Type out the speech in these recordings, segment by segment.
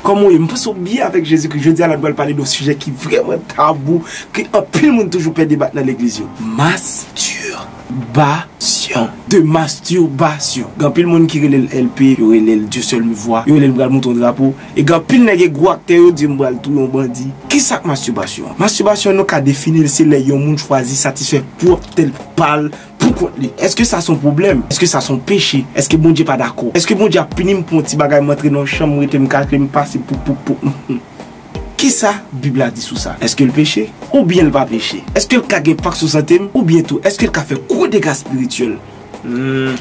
Koman w ye? M panse w byen avèk Jezikri. Jodi a la n pral pale de yon sijè ki vrèman tabou, ke anpil moun toujou pè debat nan legliz yo. Masturbasyon. De masturbasyon. Gen anpil moun ki rele l LP, yo rele l Dieu seul me voit, yo rele l m pral monte yon drapo. E gen anpil nèg e gwo aktè yo di m pral touye yon bandi. Kisa k masturbasyon? Masturbasyon nou ka defini l se lè yon moun chwazi satisfè pwòp tèt pa l. pou kont li? Èske sa son pwoblèm? Èske sa son peche? Èske Bondye pa dakò? Èske Bondye ap pini m pou yon ti bagay m antre nan yon chanm m rete m kache m pase pou pou pou humm. Kisa bib la di sou sa? Èske l peche? Oubyen l pa peche? Èske l ka gen enpak sou sante m? Oubyen tou èske l ka fè gwo dega spirityèl? Humm.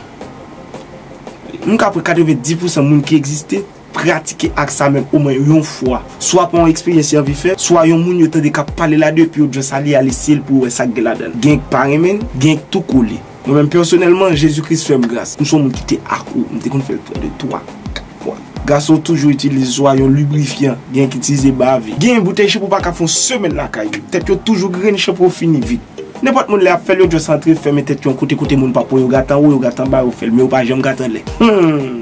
M ka pran 90 pousan moun ki egziste. Pratike ak sa menm omen yon fwa, swa pa yon eksperyans y anvi fè, swa yon moun yo tande k ap pale la de epi yo just ale al eseye l pou yo wè sa k gen ladan l. Genyen k pa renmen l, genyen k tou kole. Mwen menm pèsonèlman, Jezi Kris fè m gras. M se yon moun ki te akro, m te konn fè l pran de twa, kat fwa. Gason yo toujou itilize swa yon librifyan, genyen ki itilize bave. Genyen boutèy shanpo pa ka fè yon semèn lakay yo. Tèt yo toujou grenn, shanpo yo fini vit. Nenpòt moun lè y ap fè l yo just antre fèmen tèt yo yon kote kote moun pap wè yo gate anwo, yo gate anba, yo fè l men yo pa janm gate anlè. Humm!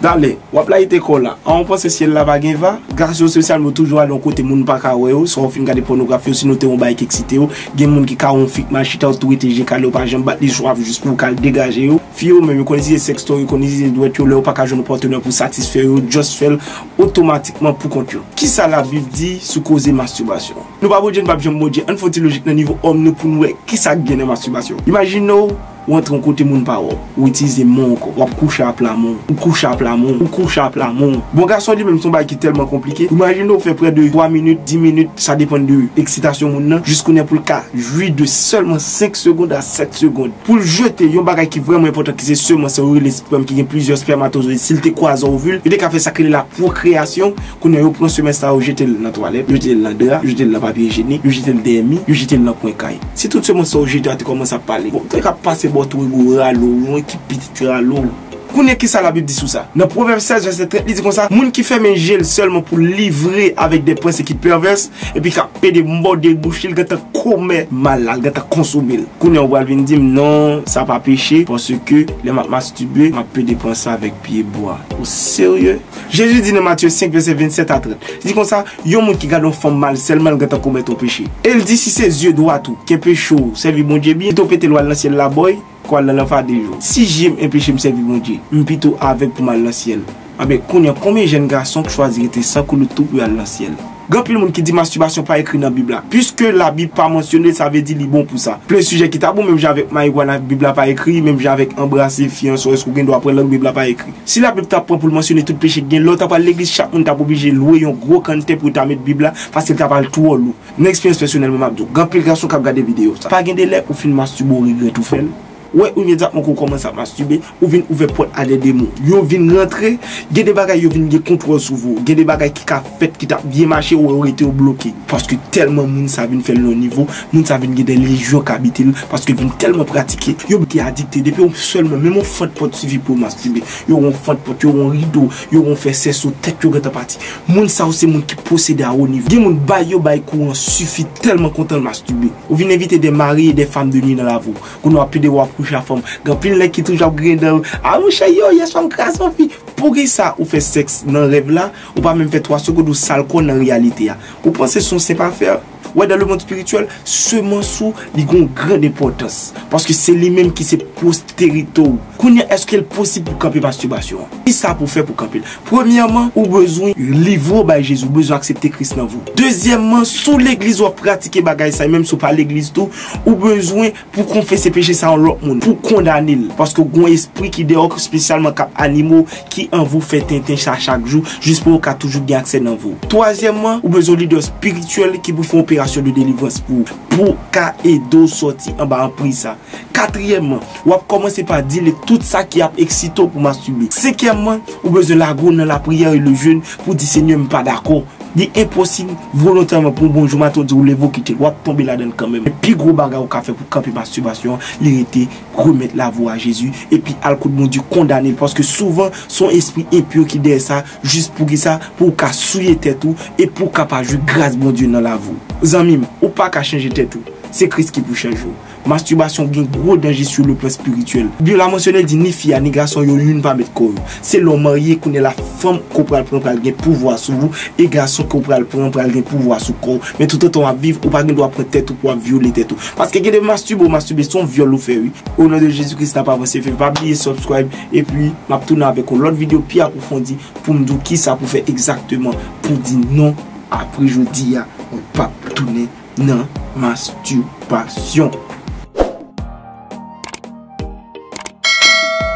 Dale, wap layite kòw la. An ou panse syèl la pa gen va? Gason sosyal mwen toujou ale yon kote moun pa ka wè yo, swa ou fin gade pònografi osinon te yon bagay ki eksite yo. Gen moun ki ka wè yon fi k mal chita ou tou rete je kale ou pa janm bat li swa jis pou ou ka al degaje yo. Fi yo menm, yo konn itilize sextoy, yo konn itilize dwèt yo lè yo pa ka jwenn yon patenè pou satisfè yo, yo just fèl otomatikman pou kont yo. Kisa labib di sou koze masturbasyon? Nou pa Bondye nou pap janm Bondye, ann fè yon ti lojik nan nivo òm nou poun wè kisa k gen nan masturbasyon. Imajinew Ou antre yon kote moun pa wè w. Ou itilize men w ankò. W ap kouche apla men w. Ou kouche apla men w. Ou kouche apla men w. Bon gason li menm se yon bagay ki tèlman konplike. Imajine ou fè prè de 3 minit, 10 minit, sa depann de eksitasyon moun nan, jiskounen pou l ka jwi de sèlman 5 segond a 7 segond. Pou l jete yon bagay ki vrèman enpòtan ki se semans sa yo rele spèm ki gen plizyè spèmatozoyid si l te kwaze a ovil, yo te ka fè sa k rele la pwokreyasyon. Kounye a yo pran semèn sa yo jete l nan twalèt, yo jete l nan dra, yo jete l nan papye ijenik, yo jete l dèyè mi, yo jete l nan kwen kay. Si tout semans sa yo jete a te kòmanse ap pale, bon, te ka pase bò tou ego ralo ou yon ekip pitit ralo ou. Kounye ki sa Labib di sou sa? Nan Pwovèb 16 vèsè 30 li di konsa, Moun ki fèmen je l sèlman pou l livre avèk de panse ki pèvès epi k ap pede mòde bouch li, l gentan komè mal la, l gentan konsome l. Kounye a ou pral vin di m, non, sa pa peche paske lè m ap mastube, m ap pede panse avèk pyebwa. Ou serye? Jezi di nan Matye 5, vèsè 27 a 30, li di konsa, Yon moun ki gade yon fanm mal, sèlman l gentan komèt yon peche. E l di, Si se zye dwat ou ki enpeche w sèvi Bondye byen, pito w pete l w al nan syèl la bòy, ke w al nan lanfa de jou. Si je m enpeche m sèvi Bondye, m pito avèg pou m al nan syèl. Anben, kounye a, konbyen jèn gason k chwazi rete san koulout tou pou y al nan syèl? Gen anpil moun ki di mastibasyon pa ekri nan bib la. Piske la bib pa mansyone l sa vle di li bon pou sa. Plen sijè ki tabou menm jan avèk marijuana bib la pa ekri, menm jan avèk anbrase fi ansò èske ou gen dwa pran lang bib la pa ekri. Si la bib ta pran pou l mansyone tout peche ki gen lè w ta pral legliz chak moun tap oblije lwe yon gwo kanntè pou yo ta met bib la paske l ta pral twò lou. Nan eksperyans pèsonèl mwen map di w gen anpil gason kap gade videyo sa. Pa gen delè ou fin mastibe w regrèt ou fè l. Wè ou imedyatman ke ou kòmanse ap mastube, ou vin ouvè pòt a de demon. Yo vin rantre, gen de bagay yo vin gen kontwòl sou vou. Gen de bagay ki ka fèt ki tap byen mache ou wè yo rete yo bloke. Paske tèlman moun sa vin fèl yon nivo, moun sa vin gen de lejyon k abite l, paske l vin tèlman pratike, yo bite adikte. Depi yo sèlman, menm yon fant pòt sifi pou yo mastube. Yo wè yon fant pòt, yo wè yon rido, yo wè yon fè sèso, tèt yo gentan pati. Moun sa yo se moun ki posede a wo nivo. Gen moun bay yo bay kouran sifi tèlman kontan l mastube. Ou vin envite de mari e de fam de nwi nan lavi w. Kounye wap plede wap kouche a fanm. Gen anpil nèg ki toujou ap griyen dan yo, ah monchè yo yeswa m kraze yon fi. Poukisa ou fè sèks nan rèv la, ou pa menm fè 3 segond ou sal kò nan reyalite a. Ou panse son senp afè? Wè dan le mond spirityèl, semans ou li gen yon grand enpòtans. Paske se li menm ki se posterite w. Kounye eske l posib pou kanpe mastibasyon an? Kisa pou fè pou kanpe l? Premyèman, ou bezwen livre w bay Jezi, ou bezwen aksepte Kris nan vi w. Dezyèmman, si w legliz wap pratike bagay sa e menm si w pa legliz tou, Ou bezwen pou konfese peche sa yon lòt moun, pou kondane l, paske gen yon espri ki dèyò ki spesyalman kap anime w, ki anvi w fè tenten sa chak jou, jis pou yo ka toujou gen aksè nan vi w. Twazyèmman, ou bezwen yon lidè spirityèl ki pou fè yon operasyon de delivrans pou ou, pou w ka ede w sòti anba anpriz sa. Katriyèmman, wap kòmanse pa dile tout sa ki ap eksite w pou w mastube. Senkyèmman, ou bezwen lage w nan lapriyè e le jèn pou w di Senyè m pa dakò, Li enposib volontèman pou bon jou maten w di w leve w kite l, w ap tonbe ladan l kanmenm. Men pi gwo bagay ou ka fè pou kanpe mastibasyon an, li rete remèt lavi w a Jezi, epi al kot Bondye kondane l, paske souvan se yon espri enpi ki dèyè sa, jis poukisa, pou w ka souye tèt ou, e pou w ka pa jwi gras Bondye nan lavi w. Zanmi m, ou pa ka chanje tèt ou, se Kris ki pou chanje w. Masturbasyon gen gwo danje sou le plan spirityèl. Bib la mansyone di ni fi a ni gason yo youn pa met kò yo. Se lè w marye kounye la fanm ke w pral pran pral gen pouvwa sou ou e gason ke w pral pran pral gen pouvwa sou kò w. Men toutotan w ap viv ou pa gen dwa pran tèt ou pou w ap vyole tèt ou. Paske gen de masturbe ou masturbe son vyòl ou fè wi. O non de Jezi Kris nap avanse fè pa bliye subscribe epi map tounen avèk yon lòt video pi apwofondi poum diw kisa pou fè egzakteman pou di non apre jodia mwen pap tounen nan masturbation.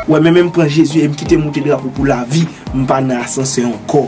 Wè men men m pran Jezi e m kite moute drapo pou lavi m pa nan asansè ankò.